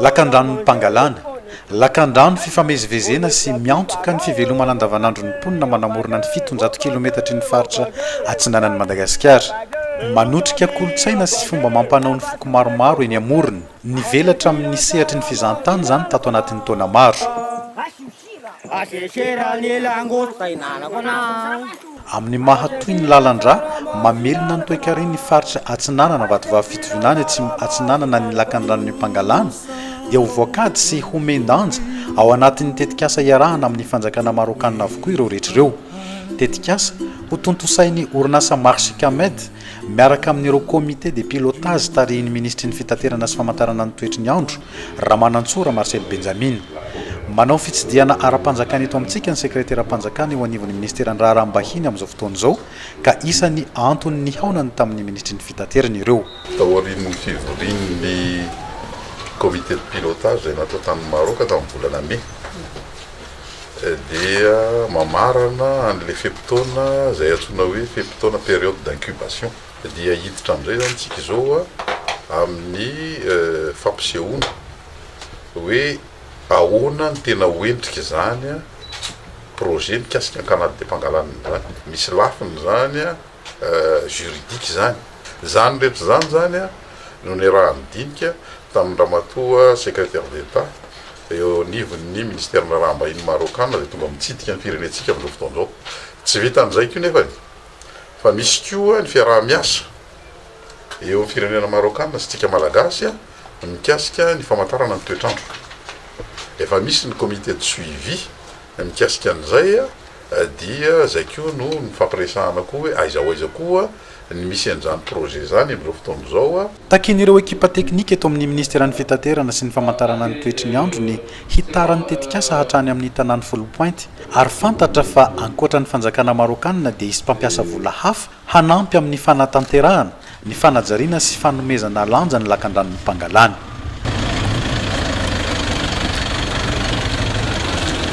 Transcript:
Lakandranon'ny mpangalana, lakandrano fifamezivezena sy miantoka ny fivelomana andavanandron'ny mponina manamorona ny fitonjato kilometatry ny faritra atsinanan'i Madagasikara. Manotrika kolontsaina sy fomba amam-panao ny foko maromaro eny amorony. Nivelatra amin'ny sehatry ny fizahantany izany tato anatin'ny taona maro. Amin'ny maha toy ny lalan-drà mamelona ny toekaren' faritra Atsinanana Vatovavy Fitovinany Atsimo Atsinanana ny Lakandranon' Impangalana dia ho voakady sy homen-danja ao anatin' ny tetikasa iarahana amin' ny fanjakana marôkana avokoa ireo rehetra ireo. Tetikasa hotontosain' ny orinasa Marchicamed. Miaraka amin'ireo Comité de pilotage tarihin'ny Minisitry ny Fitaterana sy Famantarana ny Toetry ny Andro, Ramanantsoa Ramarcel Benjamina. Manao fitsidihana ara-panjakana eto amintsika ny Sekreteram-panjakana eo anivon'ny Minisiteran'ny Raharaham-bahiny amin'izao fotoana izao ka isan'ny antony nihaonany tamin'ny Minisitry ny Fitaterana ireo. Taorian'ny fivorian'ny Comité de pilotage izay natao tany Maroc tamin'ny volana Mai, dia mamarana an'ilay fe-potoana izay antsoina hoe fe-potoana, période d'incubation, dia hiditra amin'izay izany isika izao amin'ny fampisehoana hoe ahoana ny tena ho endrik'izany projet mikasika ny Canal-de-Pangalana izany. Misy lafiny izany juridique izany. Izany rehetra izany izany no niaraha-nidinika tamin-dRamatoa Secrétaire d'État, Eo anivon'ny Minisiteran'ny Raharaham-bahiny Marôkana izay tonga mitsidika ny firenentsika amin'izao fotoana izao. Tsy vitan'izay koa nefa e! Fa misy koa ny fiaraha-miasa eo amin'ny firenena Marôkana sy antsika Malagasy mikasika ny famantarana ny toetr'andro. Efa misy ny Comité de suivi Mikasika an'izay dia izay koa no nifampiresahana koa hoe aiza ho aiza koa ny misy an'izany projet izany amin'izao fotoana izao. Takin'ireo ekipa teknika eto amin'ny Minisiteran'ny Fitaterana sy ny Famantarana ny Toetry ny Andro ny hitara ny tetikasa hatrany amin'ny tanàn'i Foulpointe ary fantatra fa ankoatra ny fanjakana Marôkana dia hisy mpampiasa vola hafa hanampy amin'ny fanatanterahana ny fanajariana sy fanomezana lanja ny lakandranon'i Pangalane.